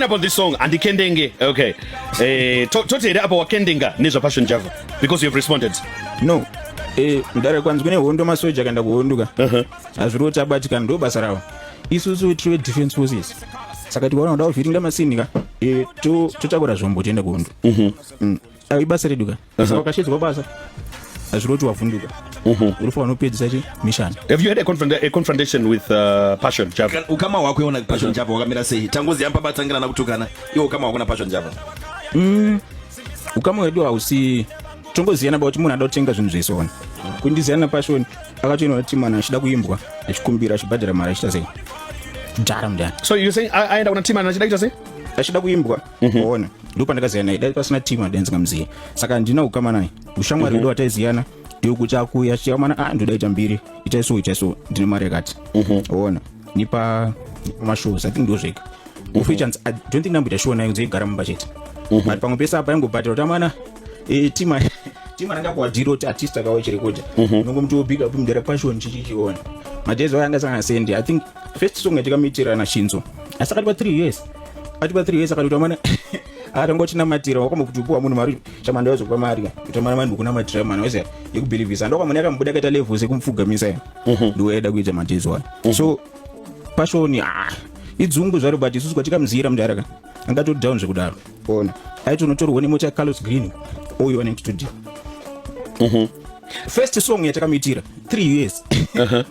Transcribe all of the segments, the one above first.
upon this song andikendenge okay eh to, toti here apa wakendenga nezva passion java because you have responded no eh mudare kwanzi kune hondo masoja akaenda kuhonduka uh-huh. hazviri kuti abatikana ndo basa ravo isusu tiri defense forces saka tikaona kuda kuvhiringa masini ka eh, totakura zvombo tiende kuhondo mhm. mm. ah, ibasa redu ka saka ukasheedzwa basa hazviroti wavhunduka urufu wanopedzisa chi mission have you had a, confront, a confrontation with uh, passion java ukama hwako iona passion java wakamira sei tangozi yamba batsangirana kutukana iwo ukama hwako na passion java mm, ukama wedu hausi tongoziyana about munhu ada kutenga zvinhu zvese ona kundiziyana passion akatoenda kuti mwana achida kuimbwa achikumbira achibhadhara mari achita sei mdara mdara so you saying aenda kuna timana achida kuita sei achida kuimbwa Mhm. ona ndipo pandakaziva naye dai pasina team adai ndingamuzive saka handina kukama naye ushamwari wedu mhm. wataiziyana ndiokuti akuuya chikamana a ah, ndoda ita mbiri itai so itai so ndine mari yakati mhm. ona nipa mashows athink ndozvega ufeachansi i don't think ndamboita shuwa nayo nzoigara mumba chete but pamwe pese apa yangobhatira kuti amana eh, tima tima ranga kuwadhira kuti artist akawa chirekodha nongomuti wobiga pumdera passion chichichiona madezi ayo angasangana sendi i think first song yatikamuitira nashinzo asi akati pa three years akati pa three years akati tamana atangotinamatira wakomba kuti upiwa munhu mari chamanda wazokupa mari utamana mani kunamatira mwana wese yekubhilivhisa ndokamana yakamboda akaita level sekumupfugamisa ya mhm. ndiwaida kuita matezo wani mhm. so pashoni ah, idzungu zvaro but isusu kwatikamuziyira mudhara ka angatoti down zvekudaro ona aiti unotorwa nemota yacarlos green oyo anenge studio mhm. first song yatakamuitira three years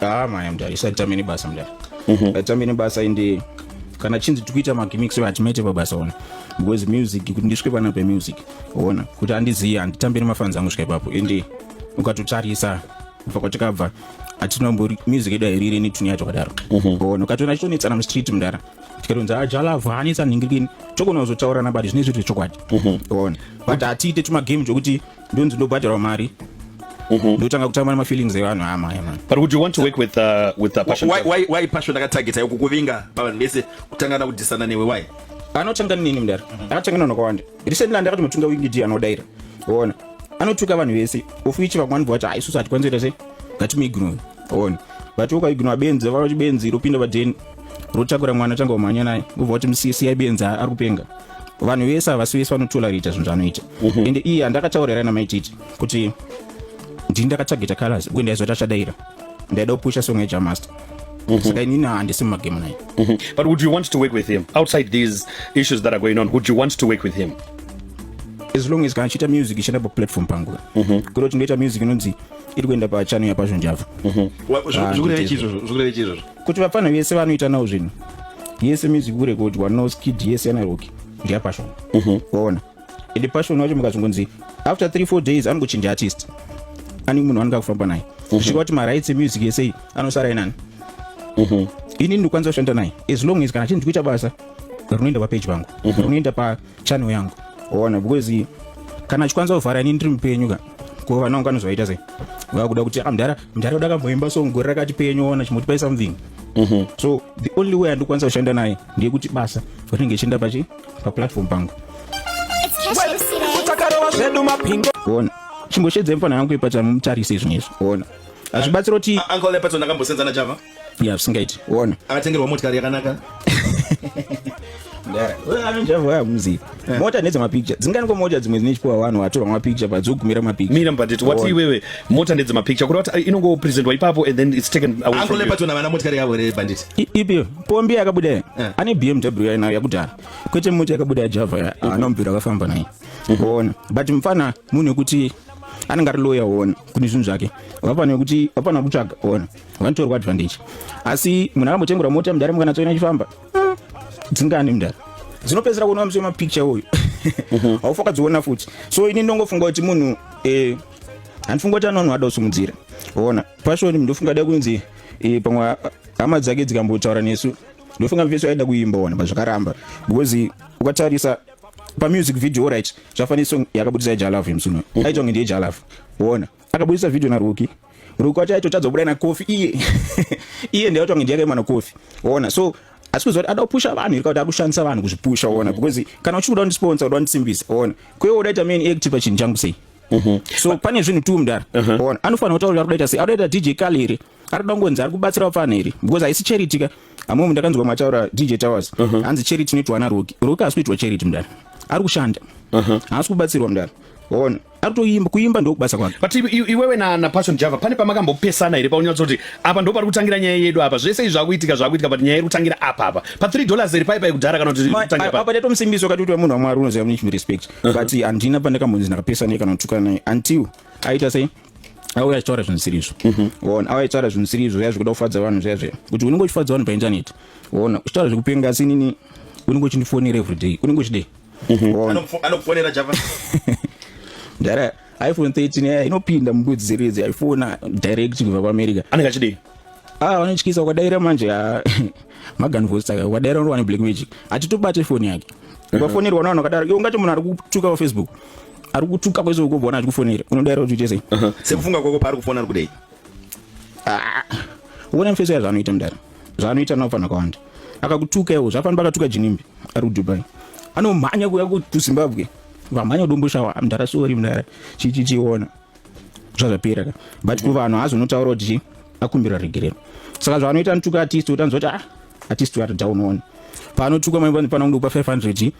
Ah, maya mdara isatambeni basa mdara mhm. atambeni basa ende kana chinzi tikuita magimix hatimaite pabasa ona because music kuti ndisvike pana pemusic ona kuti andizive handitambiri mafanzi angu svika ipapo ende ukatotarisa kubva kwatakabva hatinombori music yedu airiri netune yacho kadaro mhm. ona ukatoona achitonetsana mustreet mdara tikatonzi ajalavhu ah, hanetsa nhingirikini tokona kuzotaurana bati zvine zviri zvechokwadi mhm. ona but hatiite tumagame chokuti ndonzi ndobhadharwa mari Mm-hmm. ndotanga kutamba nemafeelings evanhu amaya man but would you want to work with, uh, with uh, passion why, why, why passion akatargeta yoku kuvinga pavanhu vese kutangana kudhisana newe why anotanga nini mdara mm-hmm. akatanga nano kawanda recently andakati mutunga wingidi anodaira ona anotuka vanhu vese ofuichi vamwani bvacho haisusu hatikwanzoita sei ngatimuignoe on but ukaignwa benzi vava chibenzi ropinda padheni rotakura mwana atanga kumhanya naye ubva kuti musiyai benzi ari kupenga vanhu vese havasi vese vanotolarita zvinhu zvaanoita mhm. ende iye handakataurira namaititi kuti ndini ndakatageta colors uye ndaizoti achadaira ndaida kupusha song yajamaster Mm-hmm. saka inini handisi mumagemu naye mm-hmm. but would you want to work with him outside these issues that are going on would you want to work with him as long as kana chiita music ichienda paplatform pangu mm-hmm. kuda kuti ndoita music inonzi iri kuenda pachano yapazvonjava kuti vapfanha vese vanoita nawo zvinhu yese music kurekodwa no skid yese yanaroki ndeyapashon mhm. waona ende pashon wacho mukazongonzi after three four days anongochinja artist ani munhu anenge akufamba naye mhm. zvichika kuti marights emusic yese iyi anosara inani mhm. ini ndikwanisa kushanda naye as long as kana chinhu ndikuita basa rinoenda papeji vangu rinoenda pa channel yangu ona because kana chikwanisa kuvhara ini ndiri mupenyu ka ko vana vangu anozovaita sei vakuda kuti amdhara ah, mdhara uda kamboimba so gore rakati penyu ona chimotipai something mm -hmm. so the only way andikwanisa kushanda naye ndeyekuti basa rinenge chienda pachi paplatform pangu ona chimboshedzai mfana yangu ipatsa mutarise izvinizvi ona hazvibatsira kuti ya zvisingaiti wona akatengerwa motikari yakanaka anonjavaya muziva eh. mota nedzemapicture dzinganiko mota dzimwe dzine chipuwa vanhu vatorwa mapicture padzogumira mapicture mira mbanditi wati iwewe mota nedzemapicture kuti wati eh, inongopresentwa ipapo and then it's taken away ango lepa tona vana motikari yavo here banditi ipi pombi yakabuda eh. ane bmw yainayo yakudhara kwete mota yakabuda yajava anomubvira akafamba naye mhm. ona but mfana munhu wekuti anenge ari loya ona kuti zvinhu zvake vapana wekuti vapana kutsvaga ona vanotorwa advantage asi munhu akambotengerwa mota mudhara mukanatsoina chifamba hmm, dzingani mudhara dzinopedzisira kuona muswe mapicture uyu mhm. haufa ukadziona futi so ini ndongofunga kuti munhu eh, handifunga kuti anonhu ada kusimudzira ona pashoni ndofunga da kunzi eh, pamwe hama dzake dzikambotaura nesu ndofunga mveso aida kuimba ona pazvakaramba because ukatarisa pamusic video right zvafanira song yakabudisa ijalav yemsuno mhm. aitonge ndiye jalav ona akabudisa video naruki ruko chaito chadzobuda na kofi iye iye ndiye otonge ndiye mwana kofi ona so asi kuziva kuti ada kupusha vanhu iri kuti akushandisa vanhu kuzvipusha ona mhm. because kana uchikuda kundisponsor uda kundisimbisa ona kuye udaita main active pachinhu changu sei mhm. so pane zvinhu tu mudhara mhm. ona anofanira kutaura kuti akudaita sei akudaita dj kali here ari kuda kungonzi ari kubatsira vapfana here because haisi charity ka amwe munhu ndakanzwa mataura dj towers hanzi charity inoitwa ana roki roki haasi kuitwa charity mudhara ari kushanda haasi kubatsirwa mudhara ona akutoimba kuimba ndokubasa kwake but iwewe na, na passion java pane pamakambopesana here paunyatsa kuti apa ndo pari kutangira nyaya yedu apa zvese izvi zvakuitika zvakuitika but nyaya iri kutangira apa apa pa 3 dollars here paipa yekudhara kana kutiapa ndatomusimbiswa kati kuti wemunhu wamwari unoziva mune respect uh-huh. but handina pandakambonzi ndakapesana ye kana kutukana naye until aita sei auya achitaura zvinhu zvisiri izvo mhm. ona auya achitaura zvinhu zvisiri izvo zviya zvekuda kufadza vanhu zviya zviya kuti unenge uchifadza vanhu paintaneti ona uchitaura zvekupenga asi inini unenge uchindifonera everyday unenge uchidei anokufonera java dara iphone 13 eh, inopinda mubudzi series aifona direct kubva kuamerica anenge achidei ah vanotyisa ukadaira manje ah, magan voice saka ukadaira unowana black magic atitobate foni yake mhm. ukafonerwa navanhu vakadaro iwe ungati munhu ari kutuka pafaceebook ari kutuka kwese ukobva ona achikufonera unodaira kuti uite sei mhm. sekufunga kwako paari kufona ari kudei Ah, uona mfeso ya zvaanoita mdara zvaanoita nawo fana kawanda akakutuka iwo zvafana pakatuka jinimbi ari kudubai anomhanya kuya kuzimbabwe vamhanya kudomboshawa mdara sori mdara chichichiona zvazvapera ka but kuvanhu azonotaura kuti chii akumbira regerero saka zvaanoita anotuka artist utanzwa kuti ah artist uyo atadhaunoona paanotuka maipanangupa 500